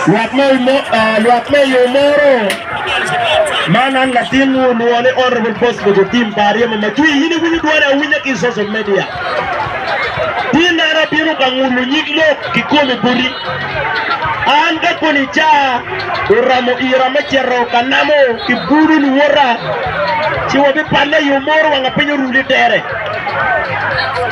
Lwak me lwak me yo moro man an latin olwongo ni Honorable Bosco Jotim pa aryemo macwi in iwinyo dwone awinya ki social media tin an abino ka ngulo nyig lok kikomi boti an ka koni ca oramo ira me cito ka namo ki bulu luwota ci wabipanne yo moro wanga piny oruli tere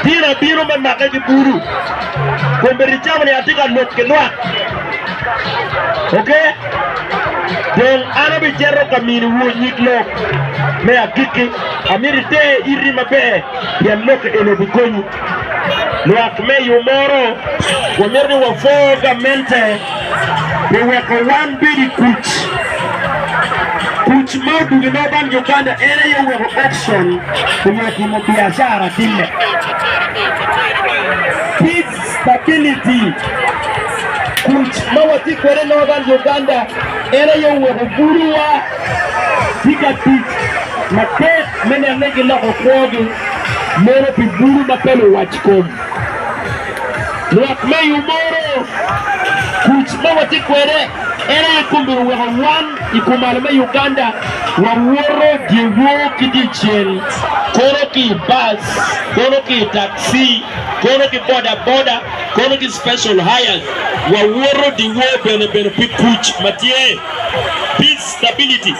Gin abino me make ki bulu. Kombe ricamo ni atye ka lok ki lwak. Oke? Dong an abicito ka miniwu nyig lok me agikki. Amito ite iti maber pien lok eni obikonyi. Lwak me yo moro wamito ni wapor gamente pi weko wan bed i kuc. Kuc ma oduge ma bal Uganda en aye oweko Oxon onyo timo biacara time. Peace stability kuc ma watye kwede Northern Uganda en aye oweko gudo wa tye ka tic matek me neno ni giloko kwogi meno pi gudo ma pe luwac kom. Lwak me yo moro, kuc ma watye kwede en aye kong myero oweko wan i kumalo me Uganda wawoto dyewor ki dyecel, kono ki i bus, kono ki i taxi, kono ki bodaboda, kono ki special hires, wawoto dyewor bene bene pi kuc ma tye. Stability,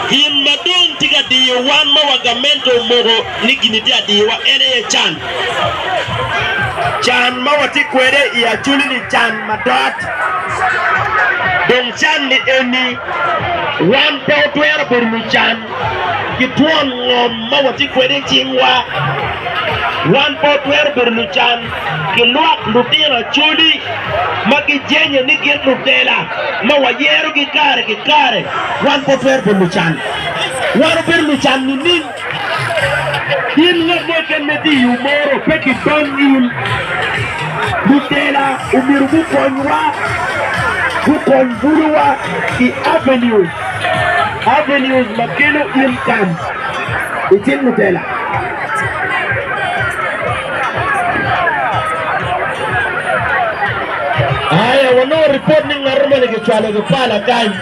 Gin ma dong tye ka diyo wan ma wa gamente omoko ni gini tye adiyowa en aye can. Can ma watye kwede i Acholi-ni can madot. Dong can ni eni, wan pe watwero bedo lucan ki twon ngom ma watye kwede i cingwa. Wan pe watwero bedo lucan ki lwak lutino Acholi ma gijenye ni gin lutela ma wayerogi kare ki kare, wan pe watwero bedo lucan. Wan wabedo lucan nining? In ngat mo keken ma itye i umoro pe ki bam nyim. Lutela omyero gukonywa, gukony bulowa i avenues, avenues ma kelo income i cing lutela. Aya wanongo ripot ni ngat moni kicwalo ki pala kany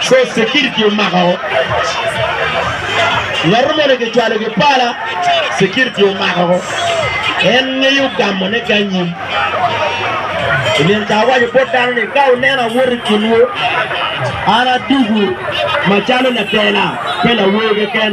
coz security omako ngat moni kicwalo ki pala security omako en ngeyo gamo ne ki anyim ilin ka awaco bot dano ni ka uneno awot i kinwu an adugu macalo latela pe lawer keken